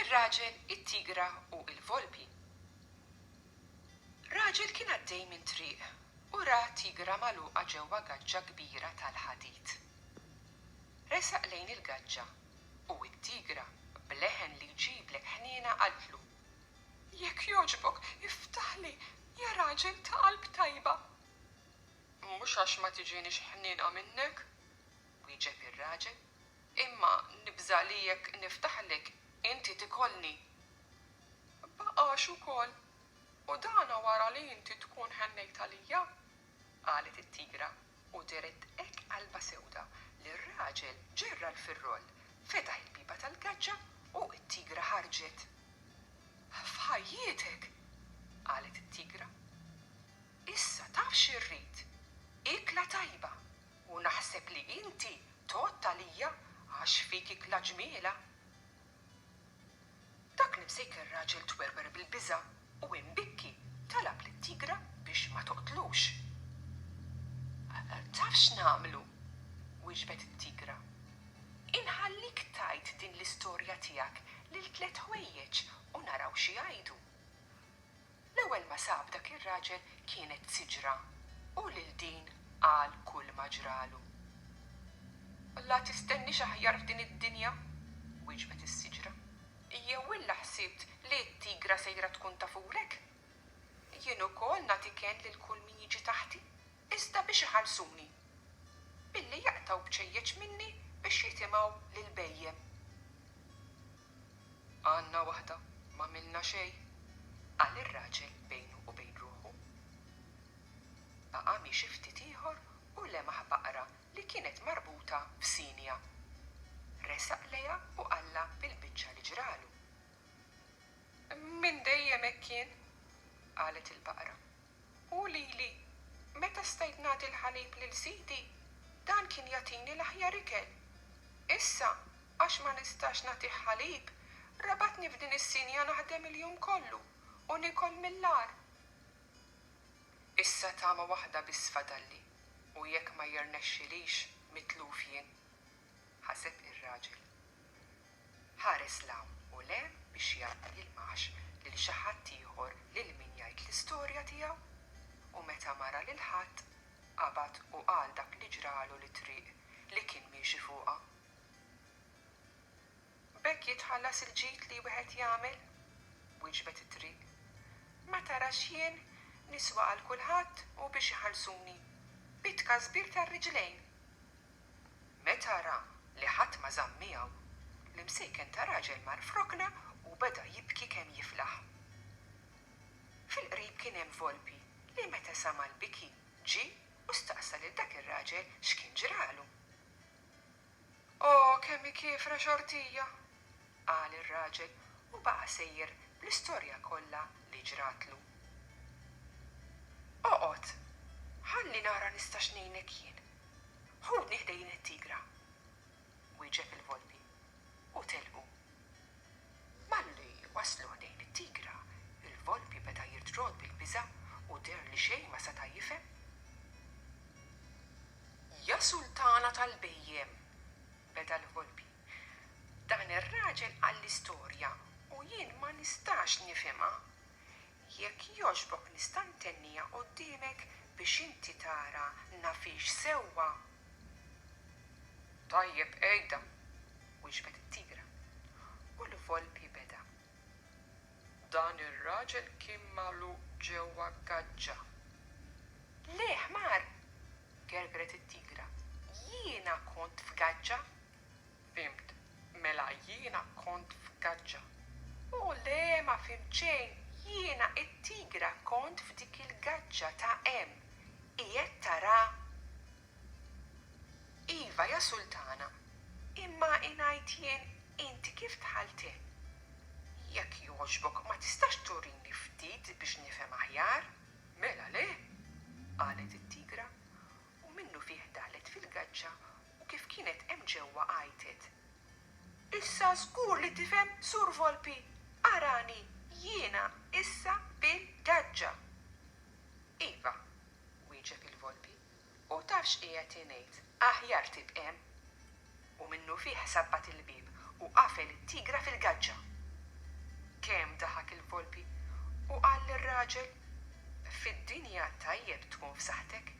Ir-raġel, it-tigra u l-volpi. Raġel kien għaddej minn triq u ra tigra magħluqa ġewwa gaġġa kbira tal-ħadid. Resaq lejn il-gaġġa u t-tigra, b'leħen li jġiblek ħniena qaltlu, Jekk jogħġbok, iftaħli, ja raġel ta' qalb tajba! Mhux għax ma tiġinix ħniena minnek, wieġeb ir-raġel, imma nibża' li jekk niftaħlek inti tikolni. Baqax ukoll, u dan wara li inti tkun ħennejt għalija, qalet it-tigra u dehret hekk qalbha sewda li r-raġel ġerra l-firroll, fetaħ il-biba tal-gaġġa u t-tigra ħarġet. F'ħajjietek! qalet it-tigra. Issa taf x'irrid? Ikla tajba, u naħseb li inti tgħodd għalija għax fik ikla ġmiela. Dak l-imsejker raġel twerwer bil-biża' u imbikki talab lit-tigra biex ma toqtlux. Taf x'nagħmlu? wiġbet it-tigra. Inħallik tgħid din l-istorja tiegħek lil tliet ħwejjeġ u naraw x'igħidu. L-ewwel ma sab dak ir-raġel kienet siġra u lil din qal kulma ġralu. La tistenniex aħjar f'din id-dinja, wieġbet is-siġra. Jew illa ħsibt li t-tigra sejra tkun tafulek? Jien ukoll nagħti kenn lil kull min jiġi taħti, iżda biex iħallsuni, billi jaqtgħu bċejjeċ minni biex jitimgħu lill-bhejjem. Għandna waħda, m'għamilna xejn, qal ir-raġel bejnu u bejn ruħu. Baqa' miexi ftit ieħor u lemaħ baqra li kienet marbuta b'sinja. Resaq lejha u qallha bil-biċċa li ġralu. Minn dejjem hekk jien, qalet il-baqra, Hu lili. Meta stajt nagħti l-ħalib lil sidi, dan kien jagħtini l-aħjar ikel. Issa, għax ma nistax nagħtih ħalib, rabatni f'din is-sinja naħdem il-jum kollu u nikol mill-agħar. Issa tama waħda biss fadalli u jekk ma jirnexxilix mitluf jien, ħaseb ir-raġel. Ħares 'l hawn u 'l hemm biex jara ma jilmaħx lil xi ħadd ieħor lil min jgħid l-istorja tiegħu. U meta ma ra lil ħadd, qabad u qal dak li ġralu lit-triq li kien miexi fuqha. B'hekk jitħallas il-ġid li wieħed jagħmel? wiġbet it-triq. Ma tarax jien niswa għal kulħadd u biex iħallsuni, bi tkasbir tar-riġlejn! Meta ra li ħadd ma żamm miegħu, l-imsejken ta' raġel mar f'rokna u beda jibki kemm jiflaħ. Fil-qrib kien hemm volpi li meta sama' l-biki ġie u staqsa lil dak ir-raġel x'kien ġralu. O, kemm hi kiefra xortija! qal ir-raġel u baqa' sejjer bl-istorja kollha li ġratlu. Oqgħod, ħalli nara nistax ngħinek jien. Ħudni ħdejn it-tigra, wieġeb il-Volpi, u telqu. Malli waslu ħdejn it-tigra, il-Volpi beda jirdrod bil-biża' u deher li xejn ma seta' jifhem. Ja Sultana tal-bhejjem, beda l-Volpi, Dan ir-raġel qalli storja u jien ma nistax nifhimha. Jekk jogħġbok nista' ntenniha quddiemek biex inti tara nafhiex sewwa? Tajjeb għidha, wiġbet it-tigra, u l-volpi beda. Dan ir-raġel kien magħluq ġewwa gaġġa. Le, ħmar! gergret it-tigra. Jiena kont f'gaġġa! Fhimt, mela jiena kont f'gaġġa. O, le, ma fhimt xejn! Jiena, it-tigra, kont f'dik il-gaġġa ta' hemm. Qiegħed tara? Iva, ja sultana, imma ingħid jien inti kif dħalt hemm? Jekk jogħġbok ma tistax turini ftit biex nifhem aħjar? Mela le! qalet it-tigra u minnufih daħlet fil-gaġġa u kif kienet hemm ġewwa għajtet, Issa żgur li tifhem Sur Volpi, arani jiena issa fil-gaġġa! Iva, wieġeb il-Volpi. U taf x'qiegħed jngħid, aħjar tibqem! U minnufih sabbat il-bieb u qafel it-tigra fil-gaġġa. Kemm daħak il-volpi u qal lir-raġel, Fid-dinja tajjeb tkun f'saħħtek,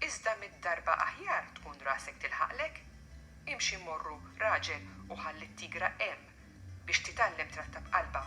iżda mitt darba aħjar tkun rasek tilħaqlek. Imxi mmorru, raġel, u ħalli t-tigra hemm biex titgħallem trattab qalbha.